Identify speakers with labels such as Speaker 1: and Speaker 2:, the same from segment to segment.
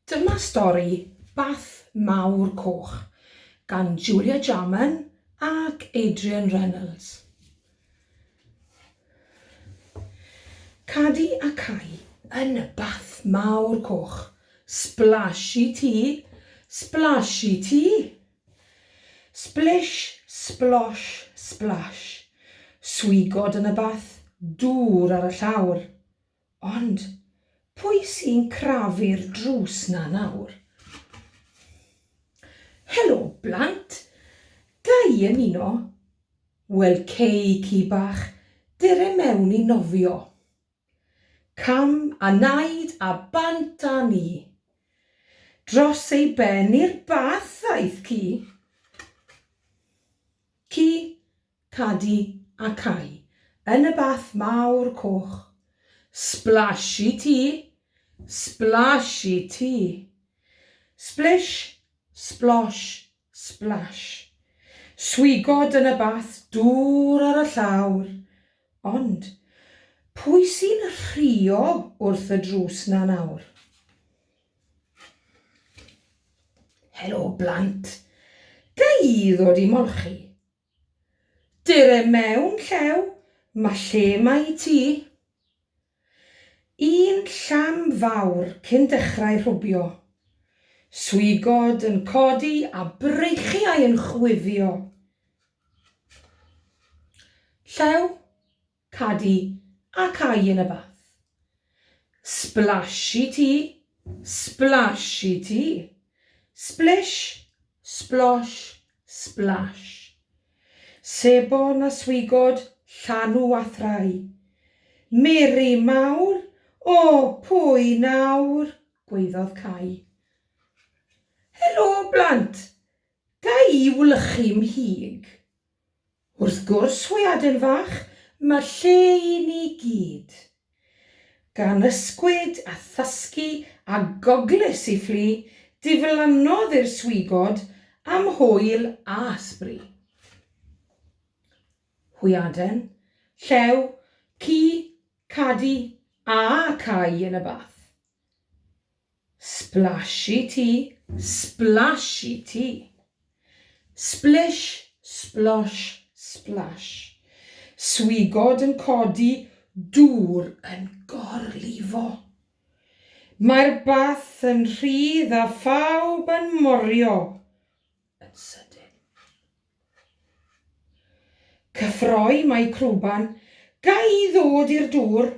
Speaker 1: Dyma stori Bath Mawr Coch gan Julia Jarman ac Adrian Reynolds. Cadi a cau yn y Bath Mawr Coch. Splash i ti! Splash i ti! Splish, splosh, splash. Swigod yn y bath, dŵr ar y llawr. Ond, pwy sy'n crafu'r drws 'na nawr? Helo, blant! Ga i ymuno? Wel, cei ci bach, dere mewn i nofio. Cam a naid a bant â ni. Dros ei ben i'r bath aeth ci. Ci, Cadi a cau yn y bath mawr coch. Splash i ti! Splash i ti! Splish, splosh, splash. Swigod yn y bath dŵr ar y llawr. Ond, pwy sy'n rhuo wrth y drws 'na nawr? Helo, blant. Ga i ddod i molchi? Dere mewn llew, ma' lle 'ma i ti. Un llam fawr cyn dechrau rhwbio. Swigod yn codi a breichiau yn chwifio. Llew? Cadi a cau yn y bath. Sblash i ti, sblash i ti. Sblish, splosh, sblash. Sebon a swigod, llanw a thrai. Mary mawr, o, pwy nawr? gwaeddodd Cai. Helo, blant! Ga i wlychu'm hug? Wrth gwrs, hwyaden fach, mae lle i ni gyd. Gan ysgwyd a thysgu a goglys i fflu, diflannodd i'r swigod am hwyl a sbri. Hwyaden, llew, ci, cadi, a cau yn y bath. Splash i ti, splash i ti. Splish, splosh, splash. Swigod yn codi, dŵr yn gorlifo. Mae'r bath yn rhydd a phawb yn morio yn sydyn. Cyffroi mae crwban, ga i ddod i'r dŵr?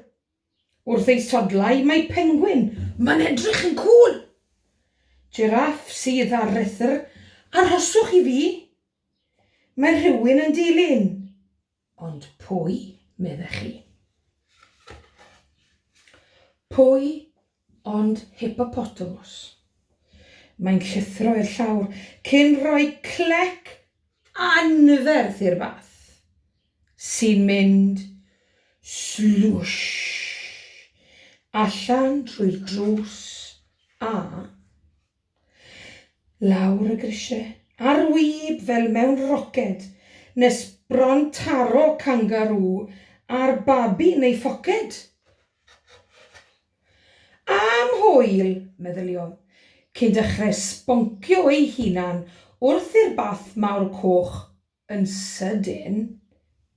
Speaker 1: Wrth ei sodlau mae pengwin. Mae'n edrych yn cŵl! Jiráff sydd â rhethr Arhoswch i fi! Mae rhywun yn dilyn. Ond pwy, meddech chi? Pwy ond hippopotamus. Mae'n llithro i'r llawr cyn rhoi clec anferth i'r fath, sy'n mynd slwsh allan trwy'r drws a Lawr y grisiau, ar wib fel mewn roced, nes bron taro cangarŵ a'r babi yn ei phoced! Am hwyl! meddyliodd, cyn dechrau sboncio ei hunan wrth i'r bath mawr coch yn sydyn,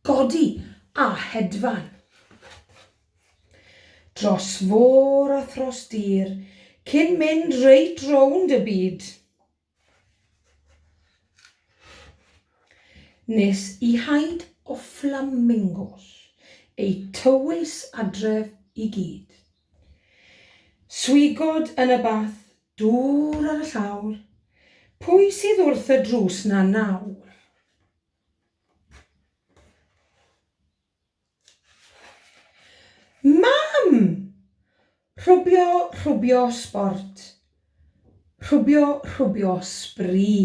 Speaker 1: godi a hedfan. Dros fôr a thros dir, cyn mynd reit rownd y byd. Nes i haid o fflamingos eu tywys adref i gyd. Swigod yn y bath, dŵr ar y llawr, pwy sydd wrth y drws 'na nawr? Mam! Rhwbio, rhwbio sbort. Rhwbio, rhwbio sbri.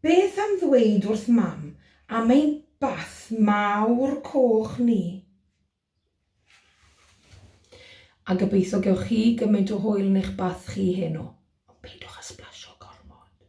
Speaker 1: Beth am ddweud wrth Mam am ein bath mawr coch ni? A gobeithio gewch chi gymaint o hwyl yn eich bath chi heno, ond peidiwch â sblasio gormod.